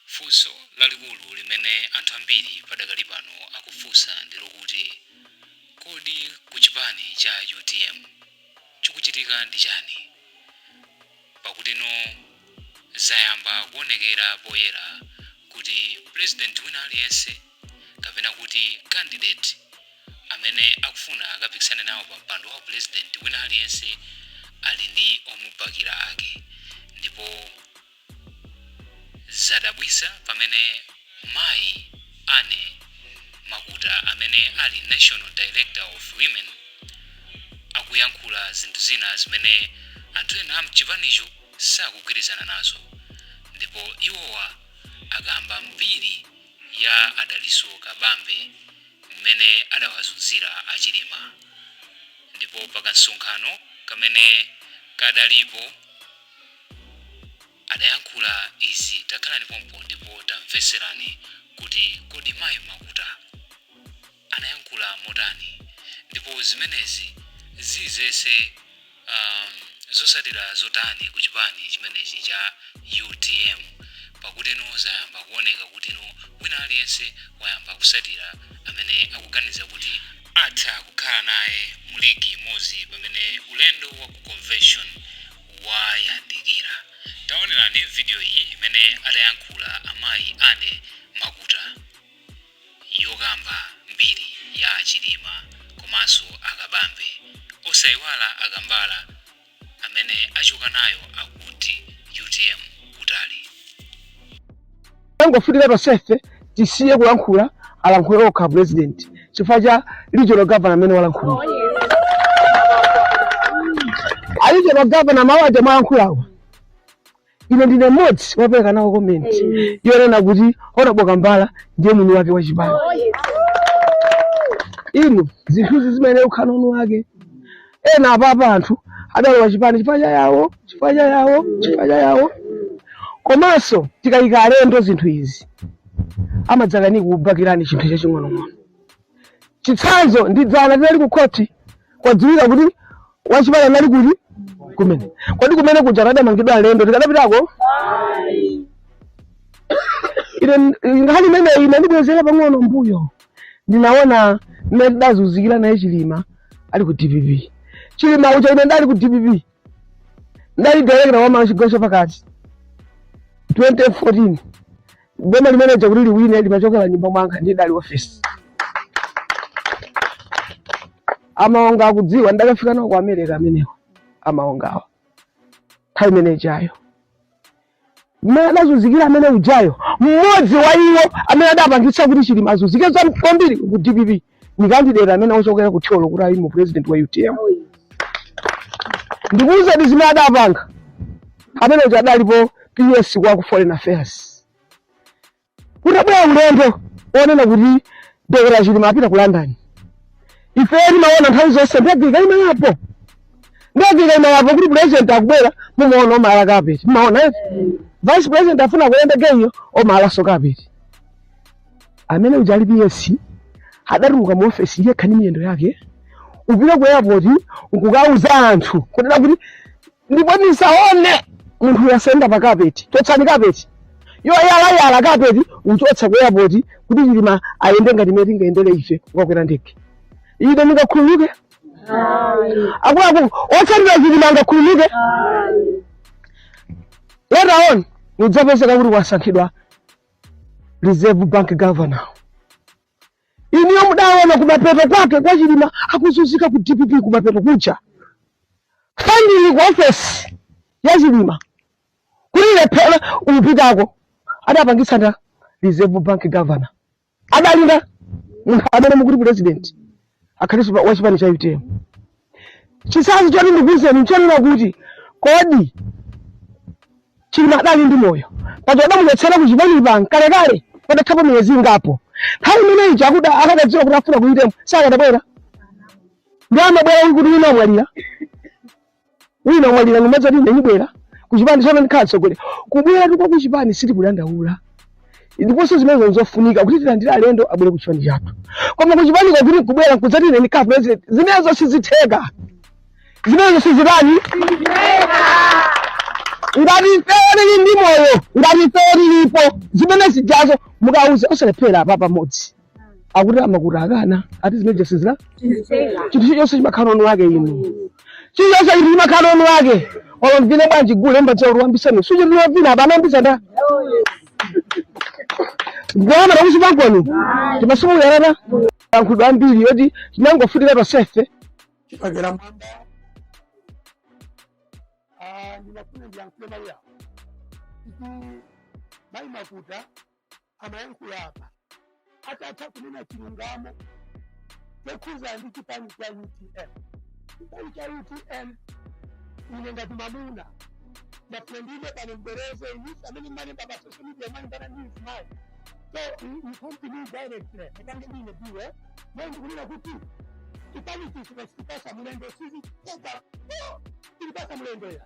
Funso lalikulu limene anthu ambiri padakali pano akufunsa ndi lokuti, Kodi ku chipani cha utm chikuchitika ndi chani? Pakutino zayamba kuonekera poyera kuti pulezidenti wina aliyense kapena kuti kandideti amene akufuna akapikisane nawo pa mpando wa upulezidenti wina aliyense ali ndi omubakira ake ndipo Zadabwisa pamene mayi Anne Makuta amene ali National Director of Women akuyankhula zinthu zina zimene anthu ena amchipanicho sakugwirizana nazo ndipo iwowa akamba mbiri ya a Dalitso Kabambe mmene adawazunzira a Chilima ndipo pakamsonkhano kamene kadalipo adayankhula izi takhalani pompo ndipo tamvetserani kuti kodi mayi makuta anayankhula motani ndipo zimenezi zidzetse um, zotsatira zotani ku chipani chimenechi cha utm pakutino zayamba kuoneka kutino wina aliyense wayamba kutsatira amene akuganiza kuti atha kukhala naye mu ligi imodzi pamene ulendo wa ku convention wayandikira. Taonerani video iyi imene adayankhula amayi Anne Makuta yokamba mbiri ya Chilima komanso a Kabambe. Osaiwala a Kambala amene achoka nayo akuti utm kutali. tangofunika tonsefe tisiye kulankhula alankhule okha president chifukwa cha regional governor amene walankhula a regional governor mawu aja mwalankhulawa ine ndine mmodzi wapereka nawo komenti yonena kuti honorable kambala ndiye mwini wake wa chipani inu zinthuzi zimayenera kukhala ndi mwini wake ena apapa anthu adalowa chipani chifukwa cha yawo chifukwa cha yawo chifukwa cha yawo komanso tikayika alendo zinthu izi amadzakanika kubakirani chinthu chaching'onong'ono chitsanzo ndi dzana tinali ku khoti kwadziwika kuti wachipani anali kuti kumene kodi kumene kuja akadamangidwa alendo tikadapitako ine nkhani imeneyi inandibwezera pang'ono mbuyo ndinaona mmene tidazunzikira naye chilima ali ku dpp chilima uja ine ndali ku dpp ndali director wa amayi chigawo chapakati 2014 boma limeneja kuti liwine limachokera mnyumba mwanga ndi idali office a maonga akudziwa ndakafika nawo ku america amenewa a maongawa nthawi imenejayo mmene adazunzikira amene ujayo mmodzi wa iwo amene adapangitsa kuti chilima azunzike za- kwambiri ku dpp ni kandidate amene ochokera ku thyolo kuti aime upresident wa utm ndikuwuzeni zimene adapanga amene uja adalipo ps kwa ku foreign affairs Kutabwera ulendo onena kuti Dr. Chilima apita ku London. Ife timaona nthawi zonse ndege ikaima apo. Ndege ikaima apo kuti president akubwera mumaona amayala kapeti. Mumaona eti. Vice president afuna kuyenda iyeyo amayalanso kapeti. Amene uja ali PS adatuluka mu office yekha ndi miyendo yake. Kupita ku airport kukauza anthu kunena kuti ndipo ndisaone munthuyo asayende pa kapeti chotsani kapetiyo yalayala kapeti kuchotsa ku airport kuti chilima ayende ngati mmene tingayendere ife kukakwera ndege ine ndingakhululuke akuluakulu otsatira chilima angakhululuke later on nkudzapezeka kuti wasankhidwa reserve bank governor Inuyo mudaona kumapeto kwake kwa Chilima akuzunzika ku DPP kumapeto kuja funding ku ofesi ya Chilima kuti ilephere kupitako adapangitsa nda Reserve Bank governor adali nda munthu amene mukuti president akhalenso pa- wa chipani cha utm chitsanzo choti ndikuuzeni nchonena kuti kodi chilima adali ndi moyo paja adamuchotsera ku chipani panga kalekale padathapo miyezi ingapo nthawi imeneyi chakuda akadadziwa kuti afuna ku utm sakadabwera nde amabwera uyu kuti wina amwalira wina wamwalira nkumadzati ndinibwera kuchipani tsopano ndikhala mtsogoleri kubweratu kwa kuchipani sitikudandaula ndiponso zimenezo nzofunika kuti tilandire alendo abwere kuchipani chathu koma kuchipaniko kuti nkubwera nkudzati ine ndikhala president zimenezo sizitheka zimenezo sizitani ngati ifeyo tili ndi moyo ngati ifeyo tilipo zimene zijazo mukauze osalephera apa pamodzi akuti a makuta akana ati zimene zonse zina chinthu chilichonse chimakhala ndi mwini wake inu chilichonse chinthu chimakhala ndi mwini wake olo muvine bwanji gule mmadziwa kuti wambisani suchinthu lovina apa anayambitsa nda ndiyama takusi pankoni timasukuyalana ankhudwa ambiri yoti tinangofunika tonsefe chipagera mwamba Ah, ndinafuna ndiyankhule mawu awo kuti mayi makuta amayankhula apa atatha kunena chilungamo chokhuza ndi chipani cha utm chipani cha utm ine ngati mamuna ndapendile pano mbereze inusi amene mmalemba pa social media mwalimbana ndi mzimayi so you come to me directly ndipange ndine biwe naye ndikunena kuti chipani ichichi kuchipatsa mulendo sizitheka tilipasa mulendo ya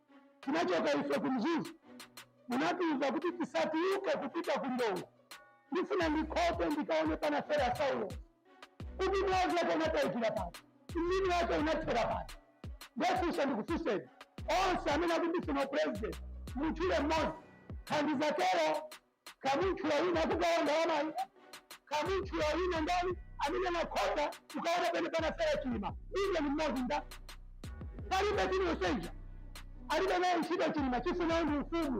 tinachoka ife ku Mzuzu, munatiuza kuti tisatiuke kupita ku Ndongo. Ndifuna ndikapite ndikaone panafera Saulo kuti mwazi wake unataikira pano, mzimu wake unathera pano. Ndefunsa ndikufunseni onse amene akufuna upresident, mutchule mmodzi tandiuza tero Kamutchula wina akugawa ndalamayo, kamutchula wina ndani amene anakhoza kukaona pene panafera Chilima, iye ni mmodzi nda palibe aliyenseyo alibe naye ntchito Chilima chifunayo ndi ufumu.